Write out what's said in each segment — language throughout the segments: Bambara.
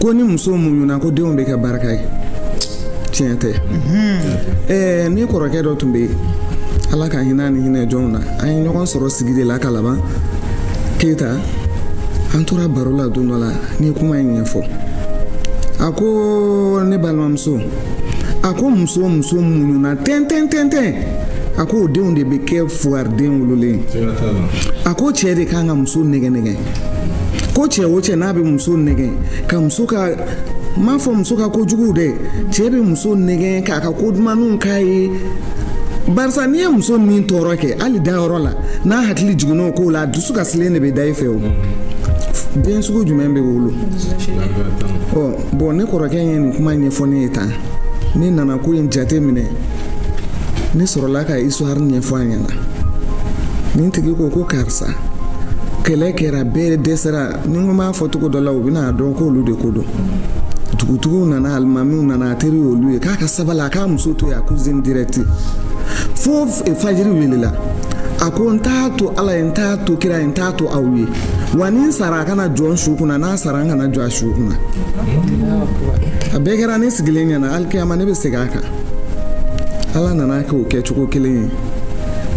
ko ni muso muɲuna ko denw bɛ kɛ barika ye tiɲɛ tɛ ɛɛ ne kɔrɔkɛ dɔ tun bɛ yen ala ka hinɛ ni hinɛ jɔnw na an ye ɲɔgɔn sɔrɔ sigida la kalaban keyita an tora baro la don dɔ la ne ye kuma in ɲɛfɔ a ko ne balimamuso a ko muso o muso muɲuna tɛntɛn tɛntɛn a ko o denw de bɛ kɛ fugaridenw wololen ye a ko cɛ de kan ka muso nɛgɛn nɛgɛn ko cɛ o cɛ n'a bɛ muso nɛgɛn ka muso ka n m'a fɔ muso ka kojuguw dɛ cɛ bɛ muso nɛgɛn k'a ka ko dumanw k'a ye barisa n'i ye muso min tɔɔrɔ kɛ hali dayɔrɔ la n'a hakili jiginn'o ko la a dusu kasilen de bɛ da i fɛ o den sugu jumɛn bɛ wolo ɔ bon ne kɔrɔkɛ ye nin kuma ɲɛfɔ ne ye tan ne nana ko in jate minɛ ne sɔrɔla ka histoire ɲɛfɔ a ɲɛna nin tigi ko ko karisa kɛlɛ kɛra bɛɛ dɛsɛra ni ko ma fɔ cogo dɔ la u bɛna dɔn k'olu de ko don dugutigiw nana alimamiw nana a teri olu ye k'a ka sabali a k'a muso to yen a cousine directe fo fajiri welela a ko n t'a to ala ye n t'a to kira ye n t'a to aw ye wa ni n sara a kana jɔ n su kunna n'a sara n kana jɔ a su kunna a bɛɛ kɛra ne sigilen ɲɛna alikiyama ne bɛ segin a kan ala nana kɛ o kɛcogo kelen ye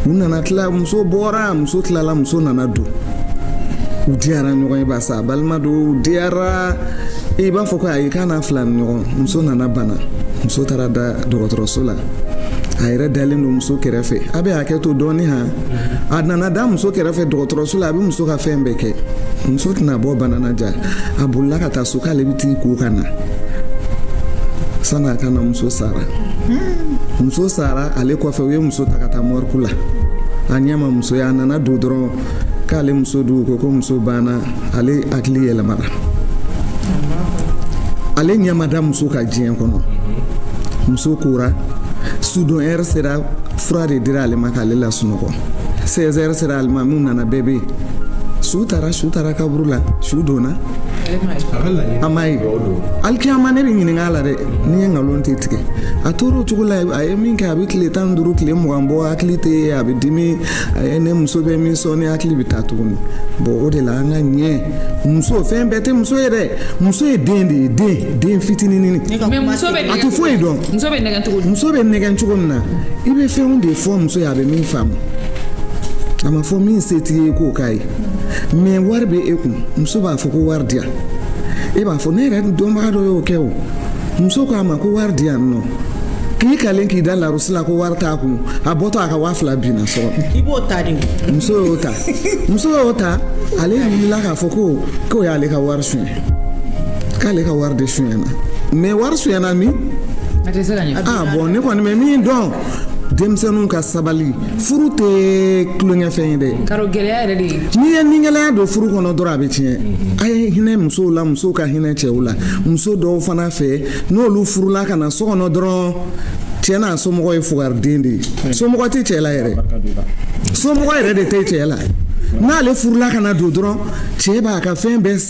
u nana tila muso bɔra muso tilala muso nana don u diyara ɲɔgɔn ye barisa balima don u diyara i b'a fɔ ko ayi k'a n'a filanin ɲɔgɔn muso nana bana muso taara da dɔgɔtɔrɔso la a yɛrɛ dalen don muso kɛrɛfɛ a bɛ hakɛ to dɔɔnin han a nana da muso kɛrɛfɛ dɔgɔtɔrɔso la a bɛ muso ka fɛn bɛɛ kɛ muso tɛna bɔ bana na ja a bolila ka taa so k'ale bɛ t'i ko ka na sani a ka na muso sara muso sara ale kɔfɛ u ye muso ta ka taa morgue la a ɲɛ ma muso ye a nana don dɔrɔn k'ale muso dun u ko ko muso banna ale hakili yɛlɛmana ale ɲɛ ma da muso kan diɲɛ kɔnɔ muso kora sudon heure sera fura de dira ale ma k'ale lasunɔgɔ 16 heures sera alimamiw nana bɛɛ bɛ yen su taara su taara kaburu la su donna a m'a ye alikiyama ne bɛ ɲininka a la dɛ n'i ye nkalon tɛ tigɛ a tora o cogo la a ye min kɛ a bɛ tile tan ni duuru tile mugan bɔ hakili tɛ yen a bɛ dimi a ye ne muso bɛ min sɔɔni hakili bɛ taa tuguni bon o de la an ka ɲɛ muso fɛn bɛɛ tɛ muso ye dɛ muso ye den de ye den den fitinin a tɛ foyi dɔn. muso bɛ nɛgɛn cogo min na i bɛ fɛnw de fɔ muso ye a bɛ min faamu a ma fɔ min se t'i ye k'o k'a ye mais wari bɛ e kun muso b'a fɔ ko wari di yan e b'a fɔ ne yɛrɛ dɔnbaga dɔ y'o kɛ o muso k'a ma ko wari di yan non k'i kalen k'i da larosi la ko wari t'a kun a bɔtɔ a ka waa fila binna sɔrɔ i b'o ta de muso y'o ta muso y'o ta ale wulila k'a fɔ ko k'o y'ale ka wari suɲɛ k'ale ka wari de sonyana mɛ wari sonyana min ah, bɔn ne kɔni bɛ min dɔn denmisɛnninw ka sabali furu tɛ tulonkɛfɛn ye dɛ n'i ye nigɛlɛya don furu kɔnɔ dɔrɔn a bɛ tiɲɛ a ye hinɛ musow la musow ka hinɛ cɛw la muso dɔw fana fɛ n'olu furula ka na so kɔnɔ dɔrɔn cɛ n'a somɔgɔ ye fugariden de ye somɔgɔ tɛ cɛ la yɛrɛ somɔgɔ yɛrɛ de tɛ cɛ la n'ale furula ka na don dɔrɔn cɛ b'a ka fɛn bɛɛ san